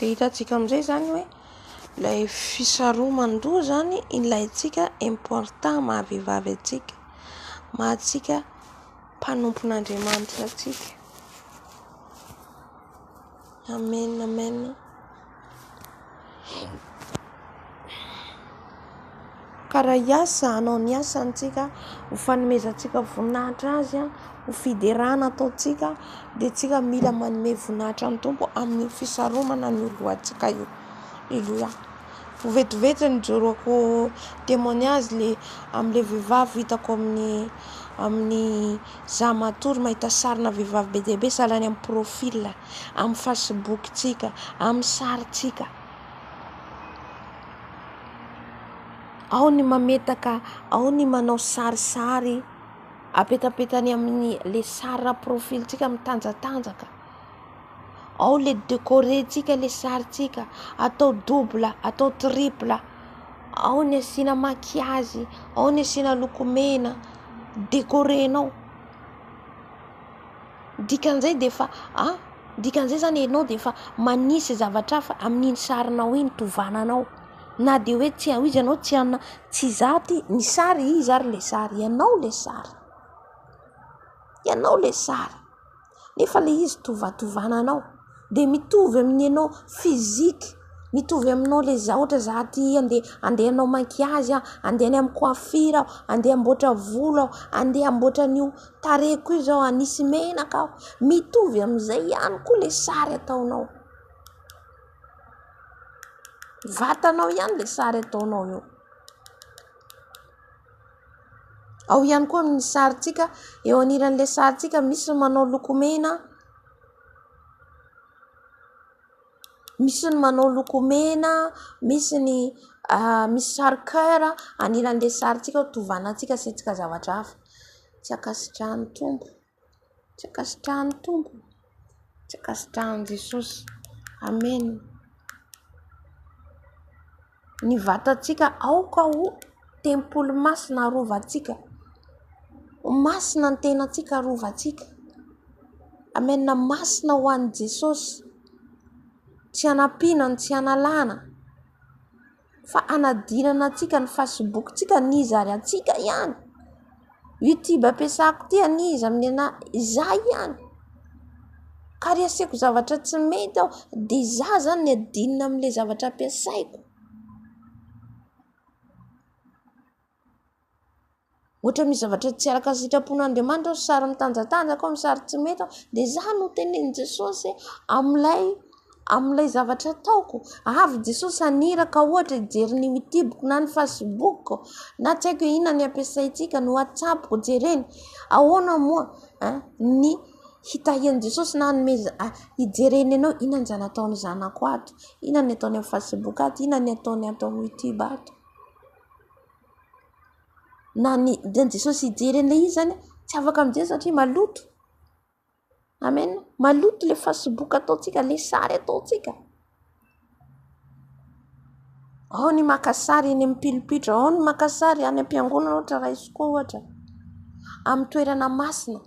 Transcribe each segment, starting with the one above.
Dia hitantsika amin'izay izany hoe ilay fisaroman-doha izany ilaintsika important maha vehivavy antsika, maha antsika mpanompon'Andriamanitra antsika. Amen amen. Ka raha hiasa hanao ny asantsika ho fanomezantsika voninahitra azy a, ho fiderana ataontsika dia tsika mila manome voninahitra ny Tompo amin'ny fisaromana ny lohantsika io. Aleloia. Vetivety nijoroako témoignage le amin'ilay vehivavy hitako amin'ny amin'ny Za matory mahita sarina vehivavy be dia be salany amin'ny profil, amin'ny fasibokintsika, amin'ny sarintsika. Ao ny mametaka, ao ny manao sarisary apetapetany amin'ny le sarina profilintsika mitanjatanjaka. Ao le decorer tsika le sary tsika, atao double, atao triple, ao ny asiana maquillage, ao ny asiana lokomena, decorenao, dikan'izay dia efa a, dikan'izay izany ianao dia efa manisy zavatra hafa amin'iny sarinao iny tovananao, na dia hoe tsy hanao izy ianao, tsy hanao, tsy izaho ny sary iza ary ilay sary, ianao ilay sary, ianao ilay sary. nefa ilay izy tovatovana anao dia mitovy amin'ny anao physique mitovy aminao ilay izy ohatra za aty andeha andeha hanao maquillage aho andeha any amin'ny coiffure aho andeha hamboatra volo aho andeha hamboatra an'io tarehiko io zao hanisy menaka aho mitovy amin'izay ihany koa ilay sary ataonao vatanao ihany ilay sary ataonao eo Ao ihany koa amin'ny sarintsika, eo anilan'ilay sarintsika misy ny manao lokomena, misy ny manao lokomena, misy ny misy sary coeur anilan'ilay sarintsika tovana antsika asiantsika zavatra hafa. Tsy ankasitrahan'ny Tompo. Tsy ankasitrahan'ny Tompo, tsy ankasitrahan'i Jesosy. Amen. Ny vatantsika aoka ho tempoly masina arovantsika. Ho masina ny tenantsika arovantsika. Amen. Masina ho an'i Jesosy. Tsy hanampiana no tsy hanalana. fa hanadinana antsika ny Facebook tsika ny iza ary antsika ihany YouTube ampiasako ity any iza amin'ny anah iza ihany ka ry aseko zavatra tsy mety aho dia iza zany ny adinina amin'ilay zavatra ampiasaiko Ohatra misy zavatra tsy araka ny sitrapon'Andriamanitra ao, sary mitanjatanjaka ao, sary tsy mety ao, dia izaho no tenenin'i Jesosy amin'ilay amin'ilay zavatra ataoko. Avy Jesosy haniraka ohatra hijery ny Youtube-ko na ny Facebook-ko na tsy haiko inona ny ampiasaintsika, ny WhatsApp-ko jereny. Ahoana moa ny hitahian'i Jesosy na hanomezany, hijereny anao, inona izany ataon'ny zanako ato, inona ny ataony amin'ny Facebook ato, inona ny ataony ato amin'ny Youtube ato. na ny dian'i Jesosy hijery an'ilay izy izany tsy afaka mijery satria maloto amen maloto ilay fasiboka ataontsika ilay sary ataontsika ao ny maka sary eny amin'ny pilipitra ao ny maka sary any am-piangonana ohatra raisiko ohatra amin'ny toerana masina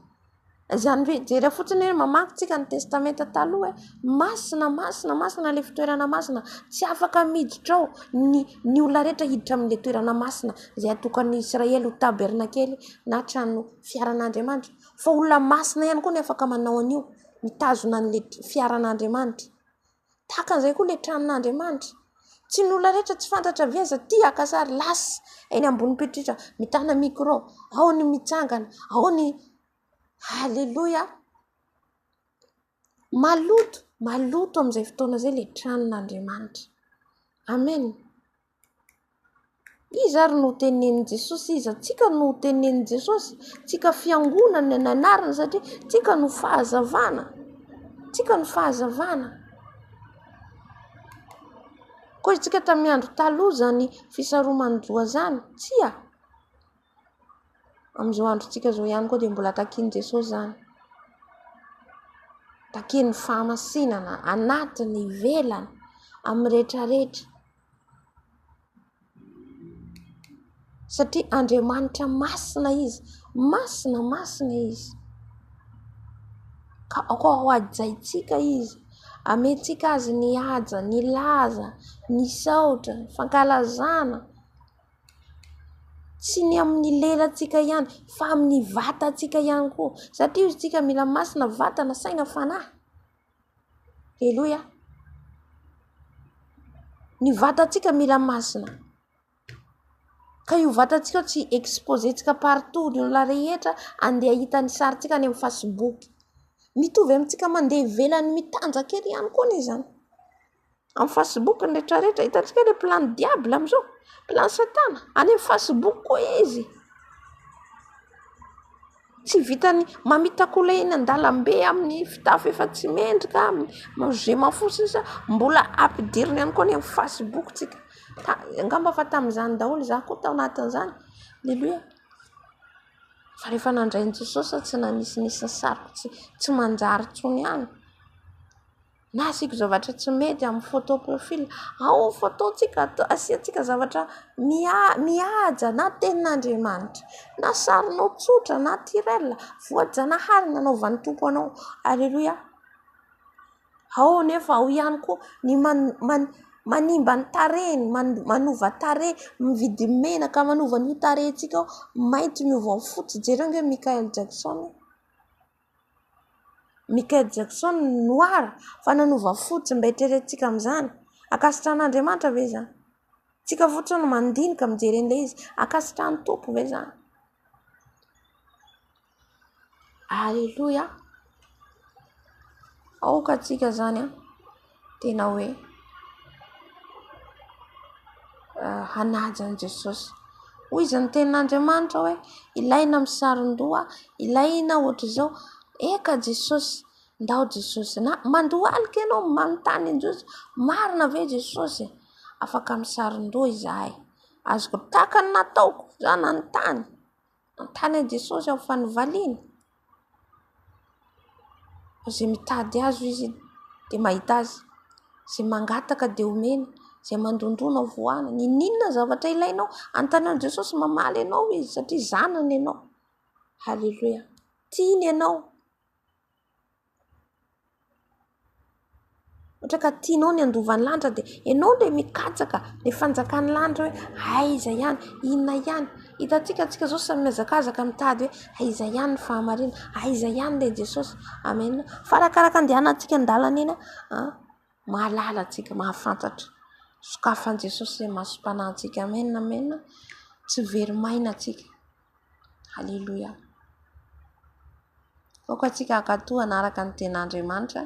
Izany hoe jereo fotsiny hoe mamaky tsika ny testamenta taloha hoe masina, masina, masina ilay fitoerana masina, tsy afaka miditra ao ny ny olona rehetra hiditra amin'ilay toerana masina izay hatokan'ny Israely ho tabernakely na trano fiaran'Andriamanitra, fa olona masina ihany koa no afaka manao an'io, mitazona an'ilay fiaran'Andriamanitra. Tahaka an'izay koa ilay tranon'Andriamanitra. Tsy ny olona rehetra tsy fantatra ve aza tia haka sary lasa eny ambony pretra mitana micro, ao ny mitsangana, ao ny aleloia. Maloto, maloto amin'izay fotoana izay ilay tranon'Andriamanitra. Amen. Iza ary no tenenin'i Jesosy? Iza tsika no tenenin'i Jesosy? Tsika fiangonana ny anarany satria tsika no fahazavana, tsika no fahazavana. Koa isika tamin'ny andro taloha izany fisaroman-doha izany? Tsia. Amin'izao androntsika izao ihany koa dia mbola takian'i Jesosy izany. Takian'ny fahamasinana anatiny, ivelany, amin'ny rehetra rehetra. Satria Andriamanitra masina izy, masina masina izy, ka koa hohajaintsika izy, hamentsika azy ny haja, ny laza, ny saotra, ny fankalazana, tsy ny amin'ny lelantsika ihany fa amin'ny vatantsika ihany koa, satria izy isika mila masina vatana, saina, fanahy. Aleloia! Ny vatantsika mila masina, ka io vatantsika io tsy exposer-tsika partout ny olona rehetra handeha hahita ny sarintsika any amin'ny fasiboky. Mitovy amintsika mandeha ivelany mitanjaka ery ihany koa anie izany. Amin'ny Facebook ny rehetra rehetra. Hitantsika ilay plan ny diable amin'izao. Plan satana. Any amin'ny Facebook koa izy. Tsy vitan'ny mamitakolay eny an-dalambe amin'ny fitafy efa tsy mendrika, je m'en fous sisa, mbola ampidiriny ihany koa any amin'ny Facebook tsika. Angamba efa tamin'izany daholo izaho koa tao anatin'izany. Aleloia. Fa rehefa nandray an'i Jesosy aho tsy nanisy nisy ny sariko tsy manjary intsony ihany. Na asiako zavatra tsy mety amin'ny photo profil. Ao ny photo-tsika, asiantsika zavatra mihaja na tenin'Andriamanitra, na sarinao tsotra naturel, voajanahary nanaovan'ny Tompo anao. Aleloia. Ao anefa ao ihany koa ny manimba ny tarehiny, manova tarehy, mividy menaka manova an'io tarehintsika io, mainty miova ho fotsy. Jereo ange Michael Jackson. Michael Jackson noir fa nanova fo tsy mba eritreretintsika amin'izany. Ankasitrahan'Andriamanitra ve izany? Tsika fotsiny no mandinika mijery an'ilay izy. Ankasitrahan'ny Tompo ve izany? Aleloia, aoka tsika izany an! tena hoe hanaja an'i Jesosy. Hoy izy ny tenin'Andriamanitra hoe ilaina amin'ny sarondoha, ilaina ohatr'izao, eka Jesosy, ndao Jesosy na mandohalika ianao manontany an'i Jesosy, marina ve Jesosy e? afaka amin'ny sarondoha izahay, azoko takany nataoko za nanontany. Hanontany an'i Jesosy aho fa novaliany? Fa izay mitady azy hoy izy dia mahita azy, izay mangataka dia omeny, izay mandondòna hovoahana. N'inon'inona zavatra ilainao, hanontany an'i Jesosy mamaly anao izy satria zanany ianao. Haleloia! Tiany ianao. Ohatra ka tianao ny handova ny lanitra dia ianao ilay mikatsaka ny fanjakan'ny lanitra hoe aiza ihany, inona ihany. Hitantsika antsika izao samy mihazakazaka mitady hoe aiza ihany ny fahamarinana, aiza ihany ilay Jesosy. Amen. Fa arakaraka andehanantsika an-dalana eny, mahalala antsika, mahafantatra. Sokafan'i Jesosy izay masom-panahintsika. Amen, amen. Tsy very maina antsika. Aleloia. Aoka antsika hankatò hanaraka ny ten'Andriamanitra.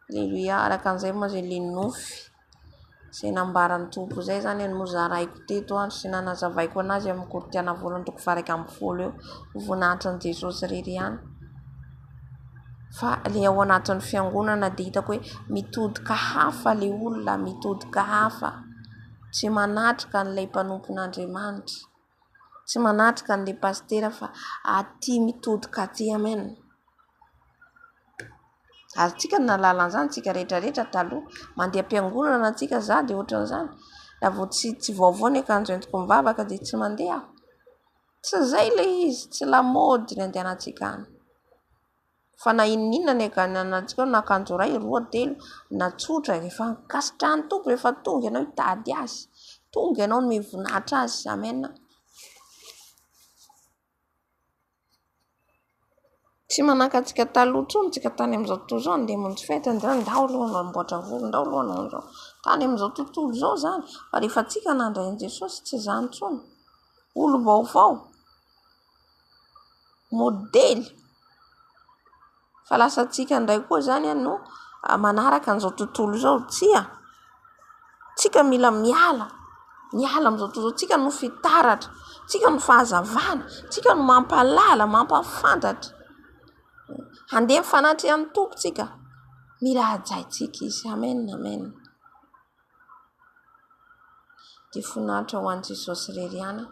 Aleloia. Araka an'izay moa izay le nofy izay nambaran'ny Tompo izay izany no zaraiko teto ary sy nanazavaiko anazy amin'ny Koritiana voalohany andininy faha iraika ambin'ny folo eo. Ho voninahitrin'i Jesosy irery ihany. Fa le ao anatin'ny fiangonana dia hitako hoe mitodika hafa le olona, mitodika hafa. Tsy manatrika an'ilay mpanompon'Andriamanitra, tsy manatrika an'ilay pasitera fa aty mitodika aty amen. Azontsika ny nahalala an'izany isika rehetra rehetra taloha, mandeha am-piangonana isika za dia ohatran'izany raha vao tsy tsy vaovao ny akanjo entiko mivavaka dia tsy mandeha aho, tsy izay ilay izy, tsy lamaody ny andehanantsika any. Fa na inon'inona ny agananantsika ao na akanjo iray, roa, telo na tsotra e, rehefa ankasitrahan'ny Tompo rehefa tonga ianao hitady Azy, tonga ianao hanome voninahitra Azy. Amen. Tsy manahaka antsika taloha intsony tsika tany amin'izao tontolo izao handeha hamonjy fety an'izany ndao aloha hanao amboatra volo ndao aloha hanao an'izao tany amin'izao tontolo izao izany fa rehefa tsika nandray an'i Jesosy tsy izany intsony olom-baovao modely fa lasantsika indray koa izany no manaraka an'izao tontolo izao. Tsia, tsika mila miala, miala amin'izao tontolo izao. Tsika no fitaratra, tsika no fahazavana, tsika no mampahalala, mampahafantatra. Handeha mifanatri an'i Tompo tsika. Mila hajaintsika Izy. Amen, Amen. Dia voninahitra ho an'i Jesosy irery ihany an!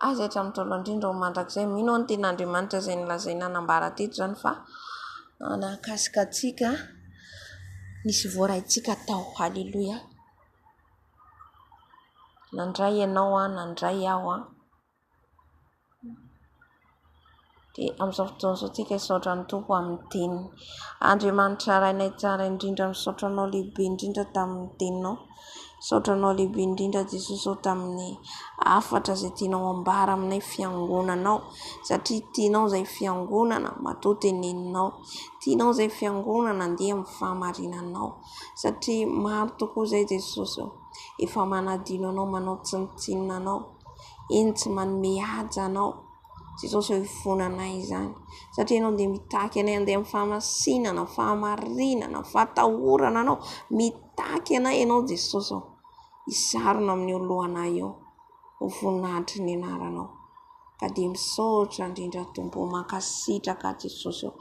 Aiza eto amin'ny taolo indrindra ao mandrakizay? Mino aho ny tenin'Andriamanitra izay nolazaina nambara teto izany fa nahakasika antsika ny sy voaraintsika tao. Haleloia! Nandray ianao an, nandray aho an. Dia amin'izao fotoana izao isika hisaotra an'i Tompo amin'ny teniny. Andriamanitra Rainay Tsara indrindra misaotra Anao lehibe indrindra tamin'ny teninao. Misaotra Anao lehibe indrindra Jesosy ô tamin'ny hafatra izay tianao ambara aminay fiangonanao satria tianao izay fiangonana matoa teneninao. Tianao izay fiangonana mandeha amin'ny fahamarinanao satria maro tokoa izay Jesosy ô efa manadino Anao manao tsinontsinona Anao. Eny tsy manome haja anao tsy izao izao hivoana anay izany satria ianao dia mitaky anay handeha amin'ny famasinana, fahamarinana, fahatahorana anao. Mitaky anay ianao Jesosy ô. Hisarona amin'ny eo alohanay eo ho voninahitry ny anaranao. Ka dia misaotra indrindra Tompo ô. Mankasitraka Jesosy ô.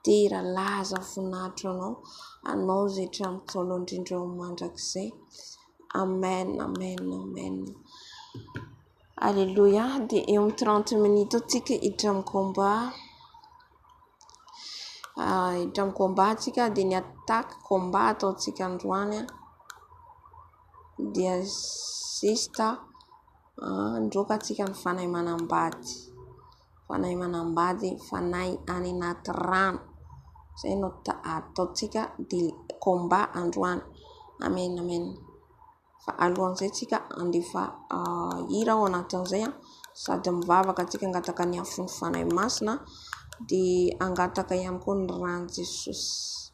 Dera laza voninahitra ho anao. Anao izay hatramin'ny ntaolo indrindra ho mandrakizay. Amen amen amen Alléluia de eo am trente minutes eo tsika hiditra am combat hiditra am combat tsika de ny attaque combat ataontsika androany dia zista handroaka tsika ny fanai manambady fanahy manambady, fanahy any anaty rano. Izay no ataontsika dia combat androany. Amen Amen. Fa alohan'izay tsika handefa hira ao anatin'izay sady mivavaka tsika hangataka ny afon'ny Fanahy Masina dia hangataka ihany koa ny ran'i Jesosy.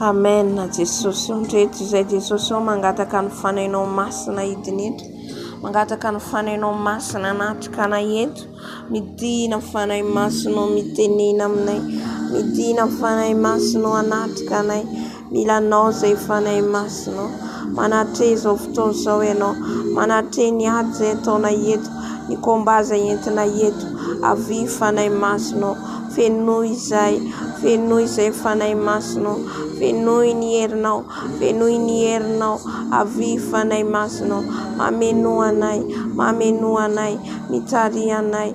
Amen Jesosy o ndreto izay Jesosy o mangataka ny fanainao masina hidina eto mangataka ny fanainao masina hanatrikana eto midina fanahy masinao mitenena aminay midina fanahy masinao hanatrika anay Mila anao izay Fanahy Masina ô. Manatreha izao fotoana izao ianao. Manatreha ny ady izay ataonay eto, ny combat izay entinay eto. Avia Fanahy Masina ô. Fenoy izay. Fenoy izay Fanahy Masina ô. Fenoy ny herinao. Fenoy ny herinao. Avia Fanahy Masina ô. Mameno anay. Mameno anay. Mitariha anay.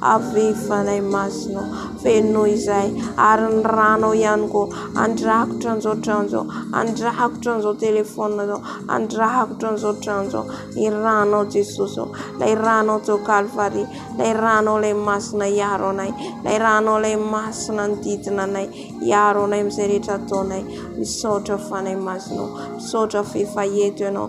Aviva lay masonao feno izay ary ny ranao ihany koa andrakotra an'izao trano izao andrakotra an'izao telephone zao andrakotra an'izao trano izao ny ranao Jesosy ô lay ranao teo kalvary lay ranao lay masina hiaro anay lay ranao lay masina ny didina anay hiaro anay amin'izay rehetra ataonay misaotra fanahy masina ô misaotra f'efa eto ianao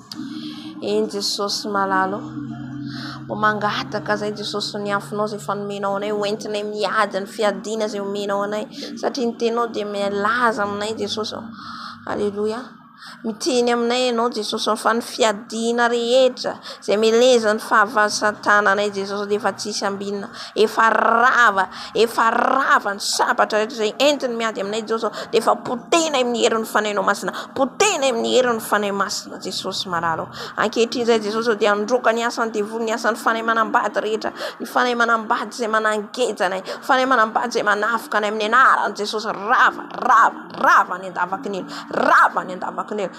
Eny Jesosy malala ô! Mba mangataka izay Jesosy ny hafonao izay efa nomenao anay ho entinay miady ny fiadiana izay omenao anay satria ny teninao dia milaza aminay Jesosy ô! Aleloia! Miteny aminay ianao Jesosy ô! Fa ny fiadiana rehetra izay melezan'ny fahavalon'ny satana anay Jesosy dia efa tsisy ambinina, efa rava. Efa rava ny sabatra rehetra izay entiny miady aminay Jesosy ô, dia efa potehina amin'ny herin'ny Fanahinao Masina, potehina amin'ny herin'ny Fanahy Masina Jesosy Malala ô. Ankehitriny izay Jesosy ô, dia handroaka ny asan'ny devoly, ny asan'ny fanahy manambady rehetra, ny fanahy manambady izay manangeja anay, fanahy manambady izay manafika anay amin'ny anaran'i Jesosy, rava, rava, rava any an-davakin'ela, rava any an-davakin'ela.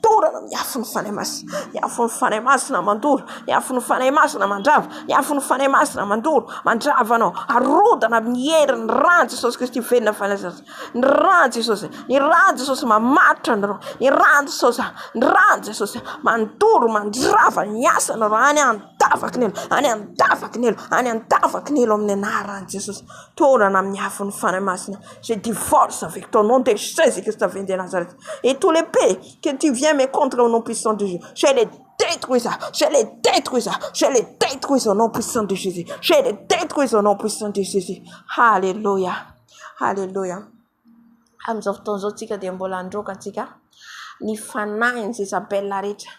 Dorana ny afon'ny Fanahy Masina, ny afon'ny Fanahy Masina mandoro, ny afon'ny Fanahy Masina mandrava, ny afon'ny Fanahy Masina mandoro, mandrava anao, arodana amin'ny herin'ny ran'i Jesosy Kristy velona fanahy, ny ran'i Jesosy, ny ran'i Jesosy mamaritra anareo, ny ran'i Jesosy, ny ran'i Jesosy mandoro, mandrava ny asanareo any an-davaky ny elo, any an-davaky ny elo, any an-davaky ny elo amin'ny anaran'i Jesosy, dorana amin'ny afon'ny Fanahy Masina, je divorce avec ton nom de Jesus Christ vendu à Nazareth. et tous les p que tu viens me contre au nom puissant de jesus je les detruis je les detruis je les detruis au nom puissant de jesus je les detruis au nom puissant de jesus haleloia haleloia amin'izao fotoana izao tsika dia mbola handroaka antsika ny fanahin'i jezabela rehetra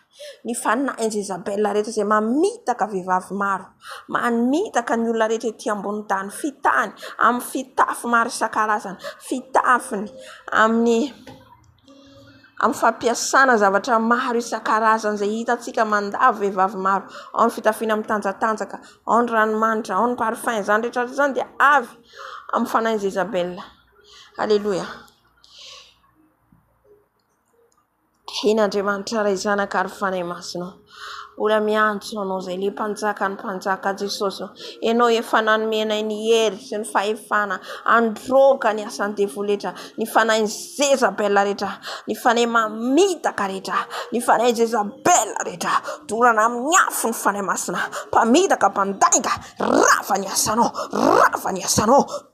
Ny fanahiny Jezabela rehetra izay mamitaka vehivavy maro, mamitaka ny olona rehetra ety ambonin'ny tany, fitahiny amin'ny fitafy maro isan-karazany, fitafiny amin'ny amin'ny fampiasana zavatra maro isan-karazany izay hitantsika mandalo vehivavy maro, ao ny fitafiana mitanjatanjaka, ao ny ranomanitra, ao ny parfum, izany rehetra rehetra izany dia avy amin'ny fanahin'i Jezabela. Aleloia. Eny Andriamanitra Ray Zanaka ary Fanahy Masina ô. Mbola miantso anao izay le mpanjakan'ny mpanjaka Jesosy ô. Ianao efa nanome anay ny hery sy ny fahefana handroaka ny asan'ny devoly rehetra, ny fanahin'i Jezabela rehetra, ny fanahy mamitaka rehetra, ny fanahy Jezabela rehetra. Dorana amin'ny afo ny Fanahy Masina. Mpamitaka, mpandainga, rava ny asanao, rava ny asanao.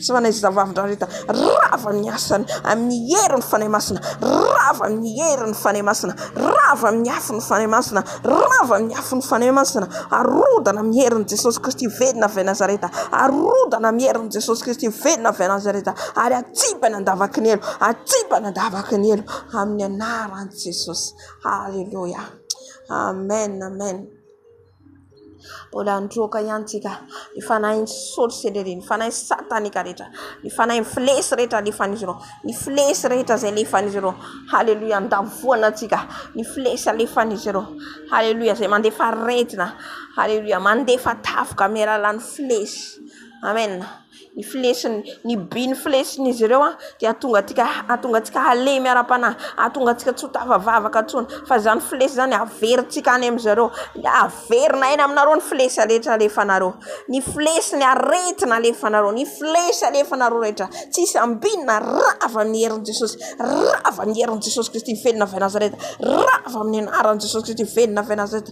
Tsy fanahy izay zavavy ndrareta Rava amin'ny asany Amin'ny herin'ny Fanahy Masina Rava amin'ny herin'ny Fanahy Masina Rava amin'ny afon'ny Fanahy Masina Rava amin'ny afon'ny Fanahy Masina Arodana amin'ny herin'i Jesosy Kristy Velona avy any Nazareta Arodana amin'ny herin'i Jesosy Kristy Velona avy any Nazareta Ary atsipany an-davaky ny elo Atsipany an-davaky ny elo Amin'ny anaran'i Jesosy Aleloia Amen Amen Mbola nirohoka ihany tsika. Ny fanahin'ny sorsa sy lery, ny fanahin'ny sataneka rehetra, ny fanahin'ny flesy rehetra alefan'izy ireo, ny flesy rehetra izay alefan'izy ireo. Haleloia, andavoana antsika ny flesy alefan'izy ireo. Haleloia, izay mandefa aretina. Haleloia, mandefa tafika amin'ny alalan'ny flesy. Amena. Ny filesin'ny, ny by ny filesin'izy ireo dia hahatonga antsika, hahatonga antsika halemy ara-panahy, hahatonga antsika tsy ho tafavavaka intsony. Fa izany filesy izany haverintsika any amin'i zareo. Haverina any aminareo ny filesy rehetra alefanareo. Ny filesy, ny aretina alefanareo, ny filesy alefanareo rehetra. Tsy hisy ambinina, rava amin'ny herin'i Jesosy. Rava amin'ny herin'i Jesosy Kristy velona avy Nazareta. Rava amin'ny anaran'i Jesosy Kristy velona avy Nazareta.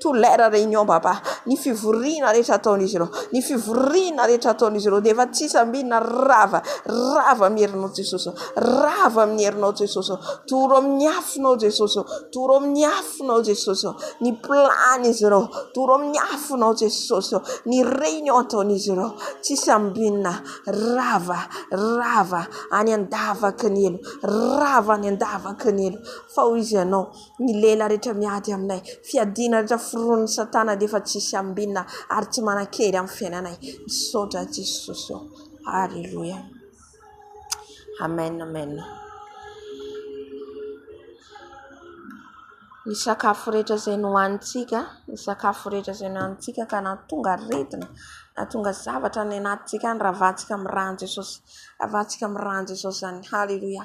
To leur réunion Baba, ny fivoriana rehetra ataon'izy ireo, ny fivoriana rehetra ataon'izy ireo dia efa tsy hisy ambinina, rava, rava amin'ny herinao Jesosy o, rava amin'ny herinao Jesosy o, toro amin'ny afonao Jesosy o, toro amin'ny afonao Jesosy o, ny plan izy ireo, toro amin'ny afonao Jesosy o, ny réunion ataon'izy ireo, tsy hisy ambinina, rava, rava any an-davaky ny helo, rava any an-davaky ny helo, fa hoy Izy ianao, Ny lela rehetra miady aminay, fiadiana rehetra foronin'i satana dia efa tsisy ambinina ary tsy manankery amin'ny fiainanay. Misaotra Jesosy ô. Aleloia. Amen amen. Ny sakafo rehetra izay nohanintsika, ny sakafo rehetra izay nohanintsika ka nahatonga aretina, nahatonga zavatra any anatintsika any, ravahantsika amin'ny ràn'i Jesosy. Ravahantsika amin'ny ràn'i Jesosy izany. Aleloia.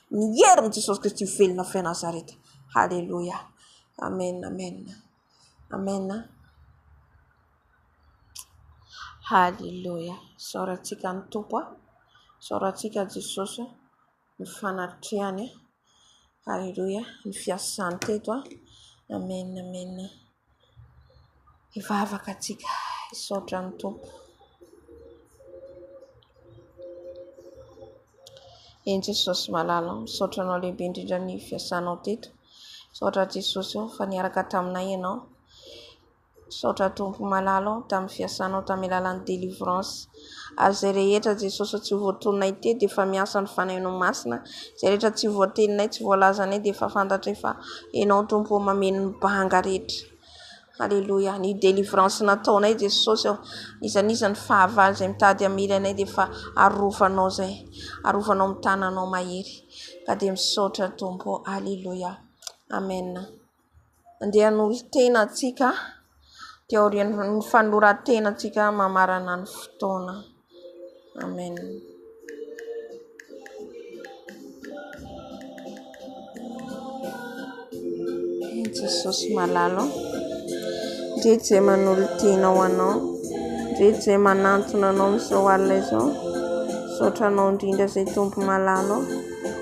Ny herin'i Jesosy Kristy ho velona avy any Nazareta. Haleloia. Amen, amen. Amen. Haleloia. Isaorantsika ny Tompo. Isaorantsika Jesosy ny fanatrehany. Haleloia. Ny fiasany teto. Amen, amen. Hivavaka antsika, hisaotra ny Tompo. Eny Jesosy malala o, misaotra Anao lehibe indrindra ny fiasanao teto. Misaotra Jesosy o, fa niaraka taminay Ianao. Misaotra Tompo malala o, tamin'ny fiasanao tamin'ny alalan'ny délivrance. Ary izay rehetra Jesosy tsy voatoninay teo dia efa miasa ny Fanahinao Masina, izay rehetra tsy voateninay, tsy voalazanay dia efa fantatray fa Ianao Tompo ô mameno ny banga rehetra. Aleloia. Ny délivrance nataonay Jesosy ô, n'iza n'iza ny fahavalo izay mitady hamely anay dia efa arovanao izay, arovanao amin'ny tananao mahery. Ka dia misaotra Tompo ô. Aleloia. Amen. Andeha hanohy tena antsika dia aorian'ny fanoran-tenantsika mamarana ny fotoana. Amen. Jesosy malalo. Ndre je manolo tena ho anao. Ndre je manantona anao amin'izao alina izao. Misaotra anao indrindra izay tompo malalo.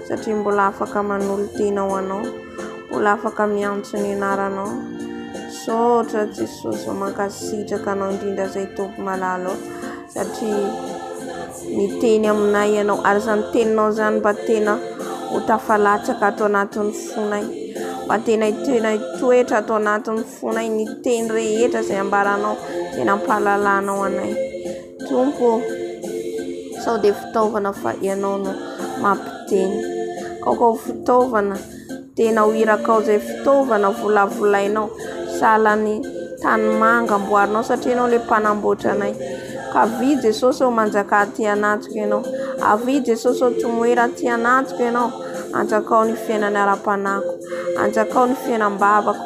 Satria mbola afaka manolo tena ho anao. mbola afaka miantso ny anaranao misaotra Jesosy ô mankasitraka anao indrindra zay Tompo malala ô satria miteny aminay ianao ary zany teninao zany mba tena ho tafalatsaka ato anatin'ny fonay mba tena tena hitoetra ato anatin'ny fonay ny teny rehetra zay ambaranao tena ampahalalanao anay Tompo ô, sao dia fitaovana fa Ianao no mampiteny. Aoka ho fitaovana, tena ho irakao izay fitaovana volavolainao. Sahala ny tanimanga amboarinao satria Ianao ilay mpanamboatra anay. Ka avia Jesosy ô, manjakà aty anatiko Ianao. Avia Jesosy ô, tomoera aty anatiko Ianao. Anjakao ny fiainana ara-panahiko. Anjakao ny fiainam-bavako.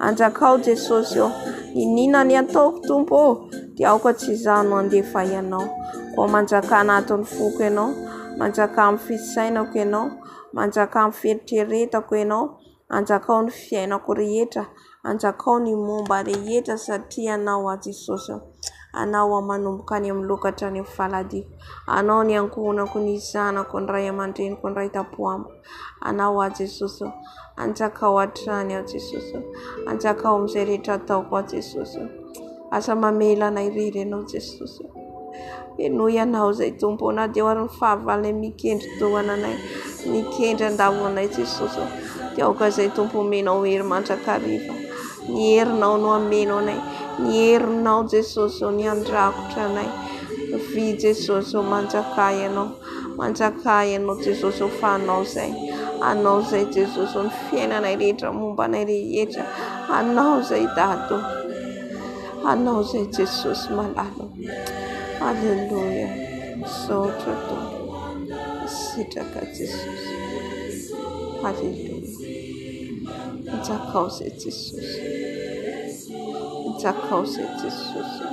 Anjakao Jesosy ô. Iniana ny ataoko Tompo ô. Dia aoka tsy izaho no handevay anao. Koa manjaka anatin'ny foko ianao, manjaka amin'ny fisainako ianao, manjaka amin'ny fieritreretako ianao, anjakao ny fiainako rehetra, anjakao ny momba rehetra satria anao aho Jesosy ô. Anao aho manomboka any amin'ny loka hatrany amin'ny faladihako. Anao ny ankohonako, ny zanako, ny ray aman-dreniko, ny ray tam-po amiko. Anao aho Jesosy ô, hanjakao hatrany aho Jesosy ô, hanjakao amin'izay rehetra ataoko aho Jesosy ô, aza mamela anay irery Ianao Jesosy ô, henoy Ianao izay Tompo ô, na dia eo ary ny fahavalonay mikendri-dohana anay, mikendry an-davo anay Jesosy ô, dia aoka izay Tompo omenao hery mandrakariva, ny herinao no ameno anay, ny herinao Jesosy ô, ny handrakotra anay, vy Jesosy ô, manjakà Ianao. Manjaka ianao Jesosy ô fa anao zay Anao zay Jesosy ô ny fiainanay rehetra momba anay rehetra Anao zay Dada ô Anao zay Jesosy malala ô Aleloia Misaotra Tompo Misitraka Jesosy Aleloia Manjakao zay Jesosy Manjakao zay Jesosy ô.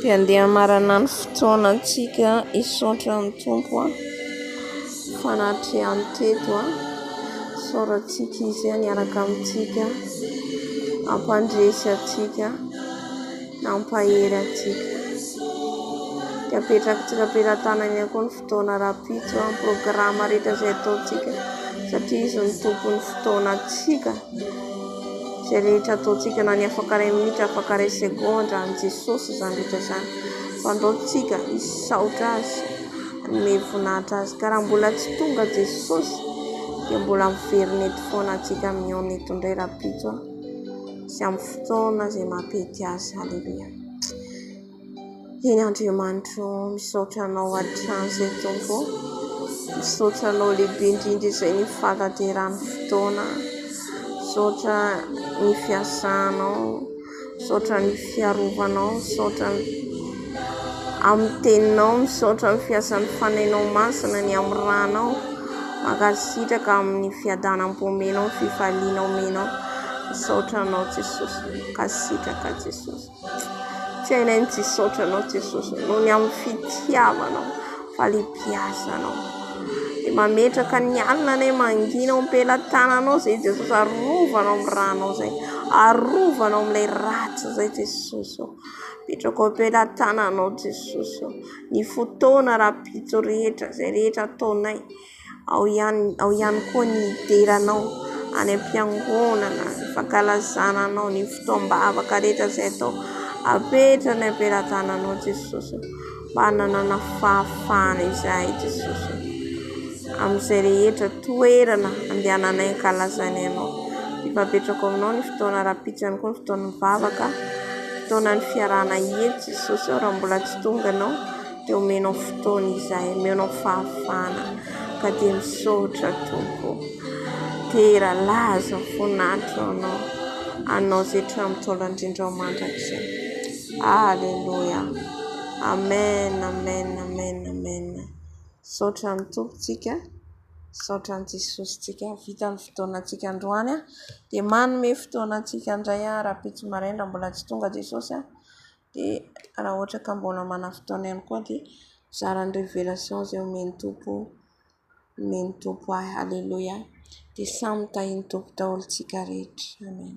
Dia andeha hamarana ny fotoanantsika hisaotra ny Tompo an, fa nahatrehany teto an, hisaorantsika Izy an hiaraka amintsika, hampandresy antsika, hampahery antsika. Dia apetratsika am-pelatanany ihany koa ny. Taona rahampitso an programme rehetra izay ataontsika satria izy no tompon'ny fotoanantsika, izay rehetra ataontsika na ny afaka iray minitra afaka iray segondra an'i Jesosy izany rehetra izany, fandao tsika hisaotra azy hanome voninahitra azy ka raha mbola tsy tonga Jesosy dia mbola miverina eto foana antsika mihaona eto indray rahampitso an sy amin'ny fotoana izay maha-pety azy, aleloia. Eny Andriamanitro ô, misaotra anao hatrany izay Tompo ô, misaotra anao lehibe indrindra izay ny fanateran'ny fotoana, misaotra ny fiasanao, misaotra ny fiarovanao, misaotra amin'ny teninao, misaotra ny fiasan'ny fanahinao masina, ny amin'ny ranao, mankasitraka amin'ny fiadanam-po omenao, fifaliana omenao, misaotra anao Jesosy, mankasitraka Jesosy. Tsy hainay ny tsy hisaotra anao Jesosy noho ny amin'ny fitiavanao, fahalehibiazanao. Dia mametraka ny alina anay mangina ao am-pelatananao izay Jesosy. Arovy anao amin'ny rànao izay. Arovy anao amin'ilay ràtra izay Jesosy ô. Apetrako eo am-pelatananao Jesosy ô. Ny fotoana rahampitso rehetra, izay rehetra ataonay. Ao ihany ao ihany koa ny hidiranao any am-piangonana, ny fankalazana anao ny fotoam-bavaka rehetra izay atao. Apetrany ny am-pelatananao Jesosy ô. Mba hananana fahafahana izahay Jesosy ô. Amin'izay rehetra toerana andehananay ankalazana anao. Efa apetrako aminao ny fotoana rahampitso ihany koa ny fotoan'ny vavaka, fotoanan'ny fiarahana hihetsika Jesosy ô raha mbola tsy tonga ianao. Dia omenao fotoana izahay, omenao fahafahana, ka dia misaotra Tompo o. Tera laza fo natro anao, anao izay hatramin'ny ntaolo andrindrao mandrakizay. Aleloia. Amen, amen, amen, amen. Misaotra an'i Tompo tsika, misaotra an'i Jesosy tsika. Vita ny fotoana antsika androany, dia manome fotoana antsika indray rahampitso maraina, mbola tsy tonga Jesosy a. dia raha ohatra ka mbola manana fotoana ihany koa dia mizara ny révélation izay omen'ny Tompo omen'ny Tompo ahy. Aleloia, dia samy tahin'ny Tompo daholo isika rehetra. Amen.